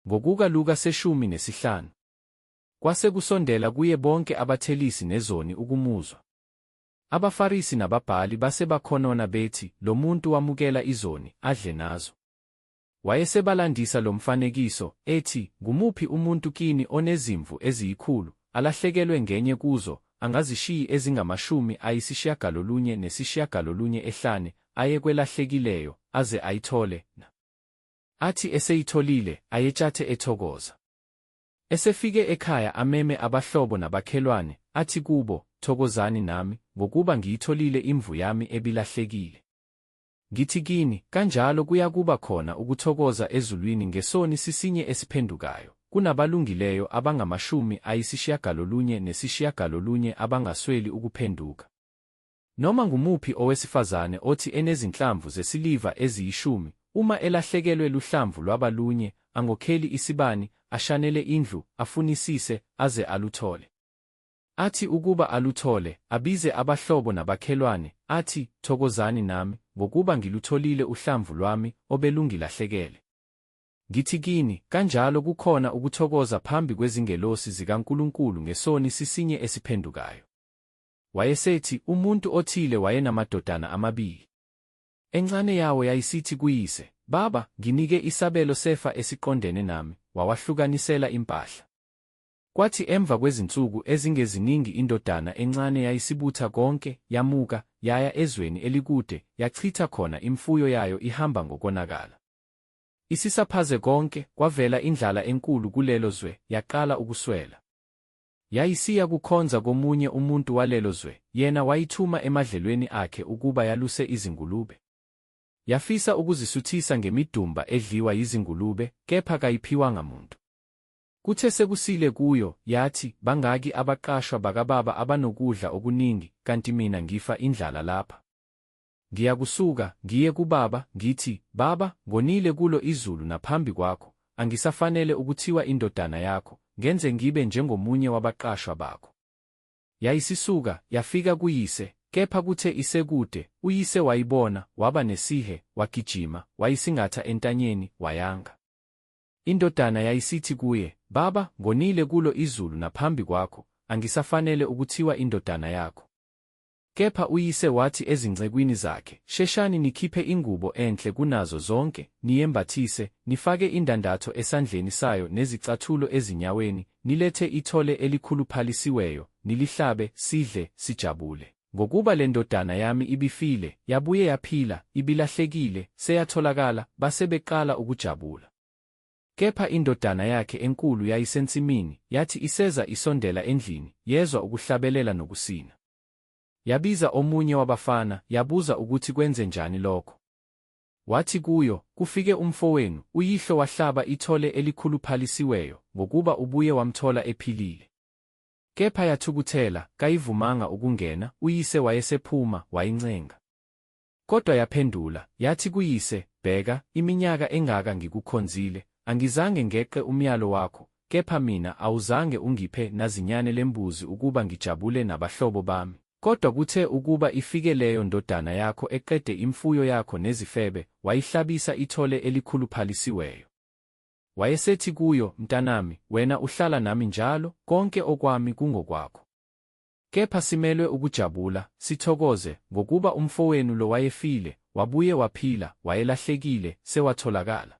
Ngokuka Luka seshumi nesihlanu. Kwase kusondela kuye bonke abathelisi nezoni ukumuzwa. AbaFarisi nababhali base bakhonona bethi lo muntu wamukela izoni adle nazo. Wayesebalandisa lo mfanekiso, ethi, Ngumuphi umuntu kini onezimvu eziyikhulu, alahlekelwe ngenye kuzo, angazishiyi ezingamashumi ayisishiyagalolunye nesishiyagalolunye ehlane, aye kwelahlekileyo aze ayithole, na. Athi eseyitholile, ayetshathe ethokoza. Esefike ekhaya ameme abahlobo nabakhelwane, athi kubo, Thokozani nami, ngokuba ngiyitholile imvu yami ebilahlekile. Ngithi kini, kanjalo kuyakuba khona ukuthokoza ezulwini ngesoni sisinye esiphendukayo, kunabalungileyo abangamashumi ayisishiyagalolunye nesishiyagalolunye abangasweli ukuphenduka. Noma ngumuphi owesifazane othi enezinhlamvu zesiliva eziyishumi, uma elahlekelwe luhlamvu lwaba lunye, angokheli isibani, ashanele indlu, afunisise, aze aluthole. Athi ukuba aluthole, abize abahlobo nabakhelwane, athi, Thokozani nami, ngokuba ngilutholile uhlamvu lwami obelungilahlekele. Ngithi kini, kanjalo kukhona ukuthokoza phambi kwezingelosi zikaNkulunkulu ngesoni sisinye esiphendukayo. Wayesethi, Umuntu othile wayenamadodana amabili. Encane yawo yayisithi kuyise, Baba, nginike isabelo sefa esiqondene nami, wawahlukanisela impahla. Kwathi emva kwezinsuku ezingeziningi indodana encane yayisibutha konke, yamuka, yaya ezweni elikude, yachitha khona imfuyo yayo ihamba ngokonakala. Isisaphaze konke, kwavela indlala enkulu kulelo zwe, yaqala ukuswela. Yayisiya kukhonza komunye umuntu walelo zwe, yena wayithuma emadlelweni akhe ukuba yaluse izingulube. Yafisa ukuzisuthisa ngemidumba edliwa yizingulube, kepha kayiphiwanga muntu. Kuthe sekusile kuyo, yathi, Bangaki abaqashwa bakababa abanokudla okuningi, kanti mina ngifa indlala lapha? Ngiyakusuka, ngiye kuBaba, ngithi, Baba, ngonile kulo izulu naphambi kwakho, angisafanele ukuthiwa indodana yakho, ngenze ngibe njengomunye wabaqashwa bakho. Yayisisuka, yafika kuyise, kepha kuthe isekude, uyise wayibona, waba nesihe, wagijima, wayisingatha entanyeni, wayanga. Indodana yayisithi kuye, Baba, ngonile kulo izulu naphambi kwakho, angisafanele ukuthiwa indodana yakho. Kepha uyise wathi ezincekwini zakhe, Sheshani nikhiphe ingubo enhle kunazo zonke, niyembathise, nifake indandatho esandleni sayo nezicathulo ezinyaweni, nilethe ithole elikhuluphalisiweyo, nilihlabe, sidle, sijabule. Ngokuba le ndodana yami ibifile, yabuye yaphila, ibilahlekile, seyatholakala, base beqala ukujabula. Kepha indodana yakhe enkulu yayisensimini, yathi iseza isondela endlini, yezwa ukuhlabelela nokusina. Yabiza omunye wabafana, yabuza ukuthi kwenze njani lokho. Wathi kuyo, Kufike umfowenu, uyihlo wahlaba ithole elikhuluphalisiweyo, ngokuba ubuye wamthola ephilile. Kepha yathukuthela, kayivumanga ukungena, uyise wayesephuma, wayincenga. Kodwa yaphendula, yathi kuyise, Bheka, iminyaka engaka ngikukhonzile, angizange ngeqe umyalo wakho, kepha mina awuzange ungiphe nazinyane lembuzi ukuba ngijabule nabahlobo bami. Kodwa kuthe ukuba ifike leyo ndodana yakho eqede imfuyo yakho nezifebe, wayihlabisa ithole elikhuluphalisiweyo. Wayesethi kuyo, Mntanami, wena uhlala nami njalo, konke okwami kungokwakho. Kepha simelwe ukujabula, sithokoze, ngokuba umfowenu lo wayefile, wabuye waphila, wayelahlekile, sewatholakala.